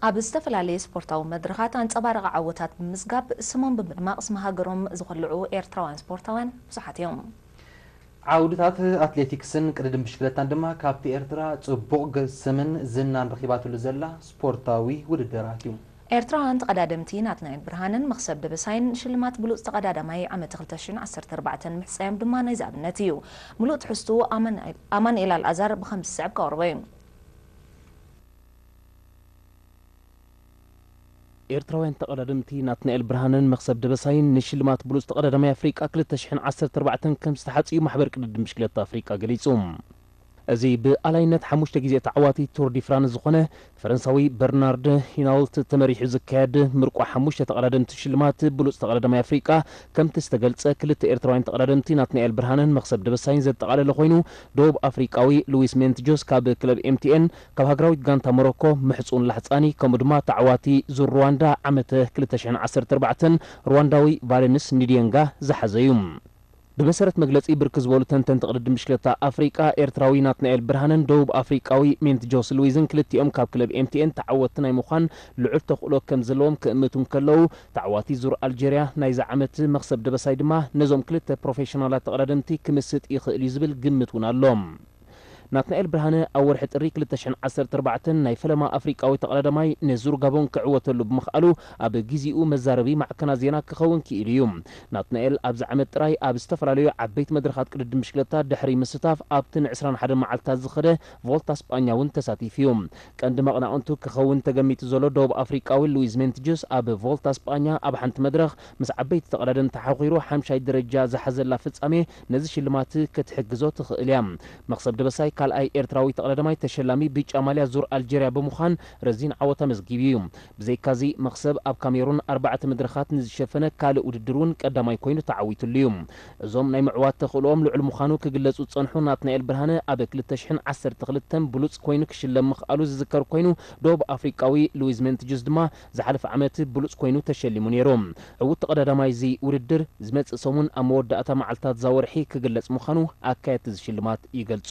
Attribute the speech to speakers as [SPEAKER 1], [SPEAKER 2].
[SPEAKER 1] ኣብ ዝተፈላለየ ስፖርታዊ መድረኻት ኣንጸባራቒ ዓወታት ብምምዝጋብ ስሞም ብምድማቕ ስም ሃገሮም ዝኹልዑ ኤርትራውያን ስፖርታውያን ብዙሓት እዮም።
[SPEAKER 2] ዓውድታት ኣትሌቲክስን ቅድድም ብሽክለታን ድማ ካብቲ ኤርትራ ጽቡቕ ስምን ዝናን ረኺባትሉ ዘላ ስፖርታዊ ውድድራት እዩ። ኤርትራውያን ተቐዳደምቲ
[SPEAKER 1] ናትናኤል ብርሃነን መኽሰብ ደበሳይን ሽልማት ብሉጽ ተቐዳዳማይ ዓመተ ክልተ ሽሕን ዓሰርተ ኣርባዕተን ምሕጻዮም ድማ ናይዚ ኣብነት እዩ። ምሉእ ትሕዝትኡ ኣማኑኤል ኣልኣዛር ብኸምዚ ዝስዕብ ከቕርቦ እዩ።
[SPEAKER 3] ኤርትራውያን ተቐዳደምቲ ናትናኤል ብርሃነን መኽሰብ ደበሳይን ንሽልማት ብሉጽ ተቐዳዳማይ ኣፍሪቃ ክልተ ሽሕን ዓሰርተ ኣርባዕተን ከም ዝተሓጽዩ ማሕበር ቅድድም ብሽክለታ ኣፍሪቃ ገሊጹ። እዚ ብኣላይነት ሓሙሽተ ግዜ ተዓዋቲ ቱር ዲ ፍራንስ ዝኾነ ፈረንሳዊ በርናርድ ሂናውልት ተመሪሑ ዝካየድ ምርቋ ሓሙሽተ ተቐዳደምቲ ሽልማት ብሉጽ ተቐዳዳማይ ኣፍሪቃ ከምቲ ዝተገልጸ ክልተ ኤርትራውያን ተቐዳደምቲ ናትናኤል ብርሃነን መኽሰብ ደበሳይን ዘጠቓለለ ኮይኑ ደቡብ ኣፍሪቃዊ ሉዊስ ሜንትጆስ ካብ ክለብ ኤምቲኤን ካብ ሃገራዊት ጋንታ ሞሮኮ ምሕጹን ላሕጻኒ ከምኡ ድማ ተዓዋቲ ዙር ሩዋንዳ ዓመተ ክልተ ሽሕን ዓሰርተ ኣርባዕተን ሩዋንዳዊ ቫለንስ ንዲየንጋ ዝሓዘ እዩ። ብመሰረት መግለጺ ብርክት ዝበሉ ተንተንቲ ቅድድም ብሽክለታ ኣፍሪቃ፣ ኤርትራዊ ናትናኤል ብርሃነን ደቡብ ኣፍሪቃዊ ሜንት ጆስ ሉዊዝን ክልቲኦም ካብ ክለብ ኤምቲኤን ተዓወትቲ ናይ ምዃን ልዑል ተኽእሎ ከምዘለዎም ክእምቱ እንከለዉ፣ ተዓዋቲ ዙር ኣልጀርያ ናይዚ ዓመት መኽሰብ ደበሳይ ድማ ነዞም ክልተ ፕሮፌሽናላት ተቐዳደምቲ ክምስጥ ይኽእል'ዩ ዝብል ግምት እውን ኣሎ። ናትናኤል ብርሃነ ኣብ ወርሒ ጥሪ ክልተ ሽሕን ዓሰርተ ኣርባዕተን ናይ ፈለማ ኣፍሪቃዊ ተቐዳዳማይ ንዙር ጋቦን ክዕወተሉ ብምኽኣሉ ኣብ ጊዚኡ መዛረቢ ማዕከናት ዜና ክኸውን ክኢሉ እዩ። ናትናኤል ኣብዚ ዓመት ጥራይ ኣብ ዝተፈላለዩ ዓበይቲ መድረኻት ቅድድም ብሽክለታ ድሕሪ ምስታፍ ኣብቲ ን ዕስራን ሓደን መዓልትታት ዝኸደ ቮልታ ስጳኛ እውን ተሳቲፉ እዩ። ቀንዲ መቕናቕንቱ ክኸውን ተገሚቱ ዘሎ ደቡብ ኣፍሪቃዊ ሉዊዝ ሜንትጅስ ኣብ ቮልታ ስጳኛ ኣብ ሓንቲ መድረኽ ምስ ዓበይቲ ተቐዳደምቲ ሓዂሩ ሓምሻይ ደረጃ ዝሓዘላ ፍጻሜ ነዚ ሽልማት ክትሕግዞ ትኽእል እያ። መኽሰብ ደበሳይ ካልኣይ ኤርትራዊ ተቕዳዳማይ ተሸላሚ ብጫ ማልያ ዙር ኣልጀርያ ብምዃን ረዚን ዓወት ኣመዝጊቡ እዩ። ብዘይካ'ዚ መኽሰብ ኣብ ካሜሩን ኣርባዕተ መድረኻት ንዝሸፈነ ካልእ ውድድር'ውን ቀዳማይ ኮይኑ ተዓዊትሉ እዩ። እዞም ናይ ምዕዋት ተኽእሎኦም ልዑል ምዃኑ ክግለጹ ዝጸንሑ ናትናኤል ብርሃነ ኣብ ክልተ ሽሕን ዓሰርተ ክልተን ብሉጽ ኮይኑ ክሽለም ምኽኣሉ ዝዝከር ኮይኑ ዶብ ኣፍሪቃዊ ሉዊዝ ሜንትጁስ ድማ ዝሓለፈ ዓመት ብሉጽ ኮይኑ ተሸሊሙ ነይሩ። ዕውት ተቐዳዳማይ እዚ ውድድር፣ ዝመጽእ ሰሙን ኣብ መወዳእታ መዓልታት'ዛ ወርሒ ክግለጽ ምዃኑ ኣካየድቲ እዚ ሽልማት ይገልጹ።